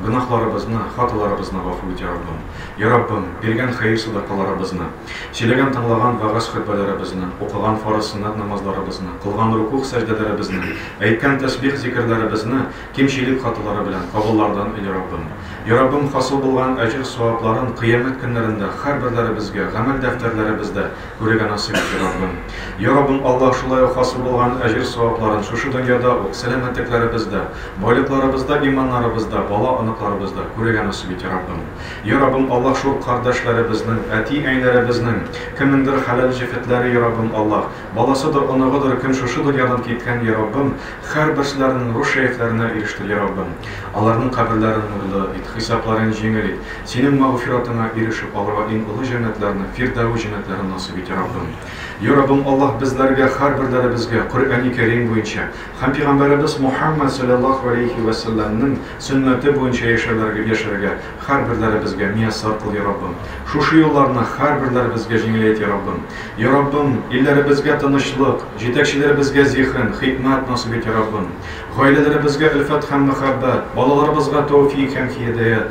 Гөнаһларыбызны, хаталарыбызны гафу ит, я Раббым. Я Раббым, биргән хәер-садакаларыбызны, сөйләгән-тыңлаган вәгазь-хөтбәләребезне, укыган фарыз-сөннәт намазларыбызны, кылган рукугъ-сәҗдәләребезне, әйткән тәсбих-зикерләребезне кимчелек-хаталары белән кабуллардан ил, я Раббым. Я Раббым, хасыл булган әҗер-савапларын Кыямәт көннәрендә хәрберләребезгә гамәл дәфтәрләребездә Күрергә насыйп итсен, Раббым. Йа Раббым Аллаһ, шулай ук хасил булган әҗер-савапларын шушы дөньяда ук, сәламәтлекләребездә, байлыкларыбызда, иманнарыбызда, бала-оныкларыбызда күрергә насыйп ит, Йа Раббым. Йа Раббым Аллаһ, шул кардәшләребезнең, әти-әниләребезнең, кемнеңдер хәләл җефетләре, Йа Раббым Аллаһ, баласыдыр, оныгыдыр, кем шушы дөньядан киткән, Йа Раббым, хәрберселәренең рух-шәефләренә ирештер, Йа Раббым. Аларның каберләрен нурлы ит, хисапларын җиңел ит. Синең мәгъфиратыңа ирешеп алырга иң олы җәннәтләрне, Фирдәвес җәннәтләрен насыйп ит, йа Раббым. Йа Раббым Аллаһ, безләргә, һәрберләребезгә, Коръәни Кәрим буенча һәм пигамбәребез Мухәммәд салләллаһу галәйһи вә сәлләмнең сөннәте буенча яшәрләргә, яшәргә һәрберләребезгә мияссар кыл, йа Раббым. Шушы юлларны һәрберләребезгә җиңеләйт, йа Раббым. Йа Раббым, илләребезгә тынычлык, җитәкчеләребезгә зиһен, хикмәт насыйп ит, йа Раббым. Гаиләләребезгә өлфәт һәм мәхәббәт, балаларыбызга тәүфик һәм һиедәят,